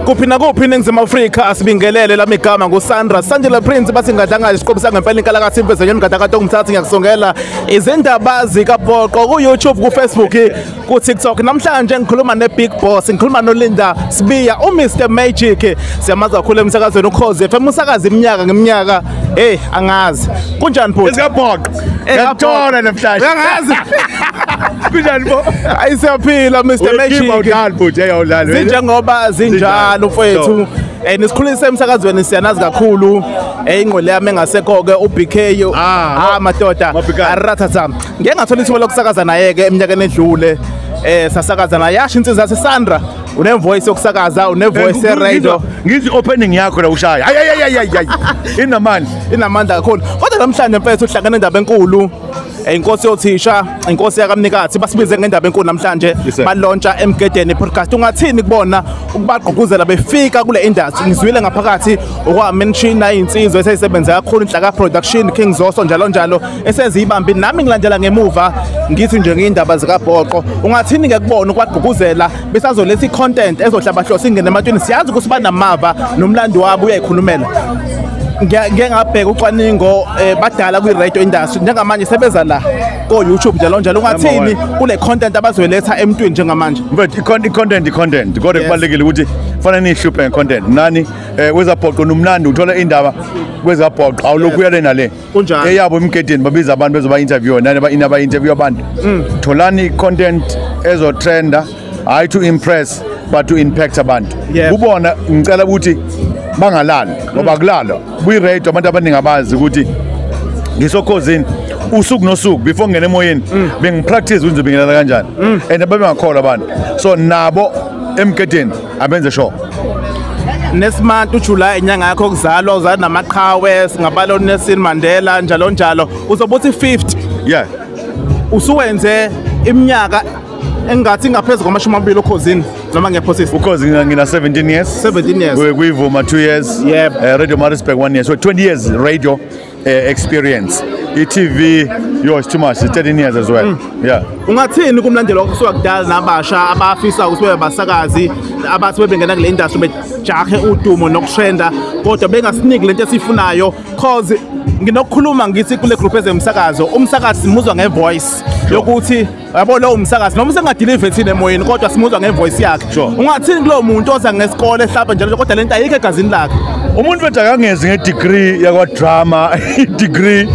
kuphi nakuphi iningizimu afrika asibingelele lami igama ngusandra sandela prince bathi ngadlangayo isiqobo sangempela inkalakathi impezenyeni ngadakade ongumthatha ngiyakusongela izindaba zikapoqo ku-youtube kufacebook kutiktok namhlanje ngikhuluma ne-big boss ngikhuluma nolinda sibiya umr magic siyamazi kakhulu emsakazweni ukhozi fm usakazi iminyaka ngeminyaka eyi angazi kunjani bhuti Ngakuthola namhlanje. Uyangazi. Kunjani bo? Ayi siyaphila Mr Magic. Uyikhipha udlali bhuti eyawudlali. Zinjengoba zinjalo mfowethu. Eh nisikhulise emsakazweni siyanazi kakhulu. Eh ingqole yami engasekho ke uBK. Ah, ah madoda. Arathatha. Ngeke ngathola ithuba lokusakaza naye ke eminyakeni edlule. Eh sasakaza naye yasho insizwa yaseSandra. une voice yokusakaza une voice radio ngizi opening yakho la ushaya hayi hayi hayi hayi inamandla inamandla kakhulu kodwa namhlanje mfethu uhlangana indaba enkulu eh, inkosi yothisha inkosi yakamnikathi basibize ngendaba enkulu namhlanje balontsha emgedeni podcast ungathini kubona ukubagqugquzela befika kule industry ngizwile ngaphakathi okwamenshini nayinsizwe eseyisebenza kakhulu inhlaka production king zoso njalo njalo esenza ibambi nami ngilandela ngemuva ngithi nje ngiyindaba zikabhoqo ungathini ke kubona ukwagquguzela besazoletha i-content ezohlabahlosa ingene ematweni siyazi ukuthi banamava nomlando wabo uyayikhulumela ngike ngabheka ucwaningo eh, badala kwi-radio industry njengamanje sebeza la ko-youtube njalo njalo ungathini kule content abazoyiletha emntwini njengamanje but i-content i-content kodwa kubalulekile ukuthi fanele niyihluphe nge-content nani um eh, kwezabhoqo nomnandi uthola indaba kwezabhoqo awulokhu uyale nale kunjani eyabo emgedeni babiza abantu bezoba interview nani ba inaba interview abantu mm. tholani content ezo trender hayi to impress but to impact abantu kubona ngicela ukuthi bangalali ngoba mm. kulala buyi radio abantu abaningi abazi ukuthi ngisokhozini usuku nosuku before ngene emoyeni mm. bengipractice ukuthi ngibingelela kanjani and babengakholwa abantu so nabo emgedeni abenze sure nesimant uJuly inyanga yakho kuzalwa uzala namaqhawe singabala uNelson Mandela njalo njalo uzobe uthi 50 yeah usuwenze iminyaka engathi ngaphezulu kwamashumi amabili ukhozini noma ngiyaphosisa ukhozi ngina 17 years 17 years. kuyivuma 2 years Yep. eh, radio marisburg 1 year so 20 years radio eh, experience i-tv yo it's too much it's 13 years as well mm. yeah ungathini kumlandeli okusuka kudala nabasha abafisa ukuthi bebe basakazi abathi bebengena kule industry bejahe udumo nokutrenda kodwa bengasiniki lento esiyifunayo cause nginokukhuluma ngithi kule group ezemsakazo umsakazi simuzwa ngevoice yokuthi yabo lowo msakazi noma usengadilive thina emoyeni kodwa simuzwa ngevoice yakhe ungathini kulowo muntu oza ngesikole ehlapha njalo kodwa lento ayikho egazini lakhe umuntu bethu akangezi ngedegree yakwadrama idegree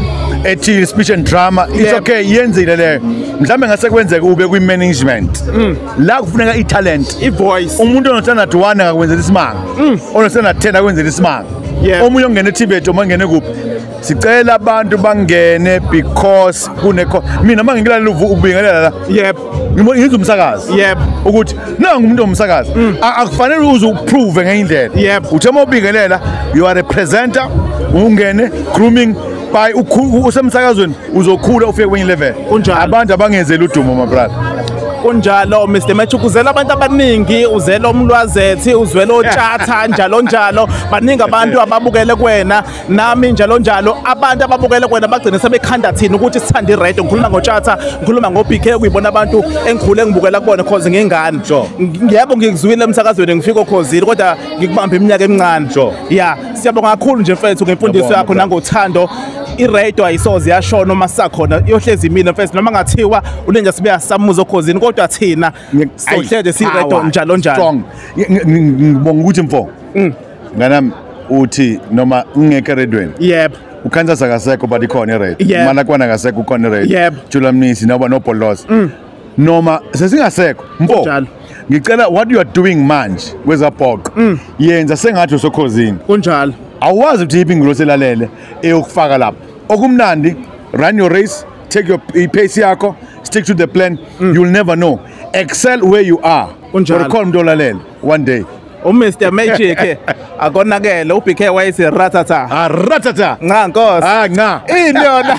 ethi speech and drama it's okay yenzile leyo mhlawumbe ngase kwenzeka ube kwi-management mm. la kufuneka i-talent i-voice umuntu onothanda-d one akakwenzela isimanga mm. onothanda-ten akwenzela isimanga omunye ongena etibet omunye ongene kuphi sicela abantu bangene because kunekho mina uma ngilalela ubingelela la yep ngizwa umsakazi yep ukuthi nangu umuntu omsakazi mm. akufanele uze uprove ngenye indlela yep uthe uma ubingelela you are a presenter ungene grooming by usemsakazweni uzokhula ufike kwenye level abantu abangenzeli udumo my brother kunjalo Mr Match ukuzela abantu abaningi uzela umlwazethi uzwela otshatha njalo njalo baningi abantu ababukele kwena nami njalo njalo abantu ababukele kwena bagcine sebekhanda thina ukuthi sithanda i-red ngikhuluma ngotshatha ngikhuluma ngo-bk kuyibona abantu engikhule ngibukela kubona cause ngingane yebo ngikuzwile emsakazweni ngifika okhozile kodwa ngikubambe iminyaka emincane ya siyabonga kakhulu nje mfethu ngemfundiso yakho nangothando iradio ayisoze yashona uma sisakhona iyohlezi imile mfethu noma ngathiwa ulenja sibe yasamuza okhozini kodwa thina sohleze siradio njalo njalo ngibonga ukuthi mfo mm. nganami uthi noma ungeke eredweni yebo ukansas akasekho but ikhona ired Yebo. malakwana akasekho ukhona ired Yebo. jula mnisi noba nobholoza noma sesingasekho mfo Kunjalo. ngicela what you are doing manje kwezabhoqo yenza sengathi usokhozini kunjalo awazi ukuthi yiphi ingilosi elalele eyokufaka lapho okumnandi run your race take your pace yakho stick to the plan you'll never know excel where you are Kunjalo. Or khona umuntu olalele one day uMr Magic akonakele uBK wayese ratata ah ratata nca nkosi ah nca ini yona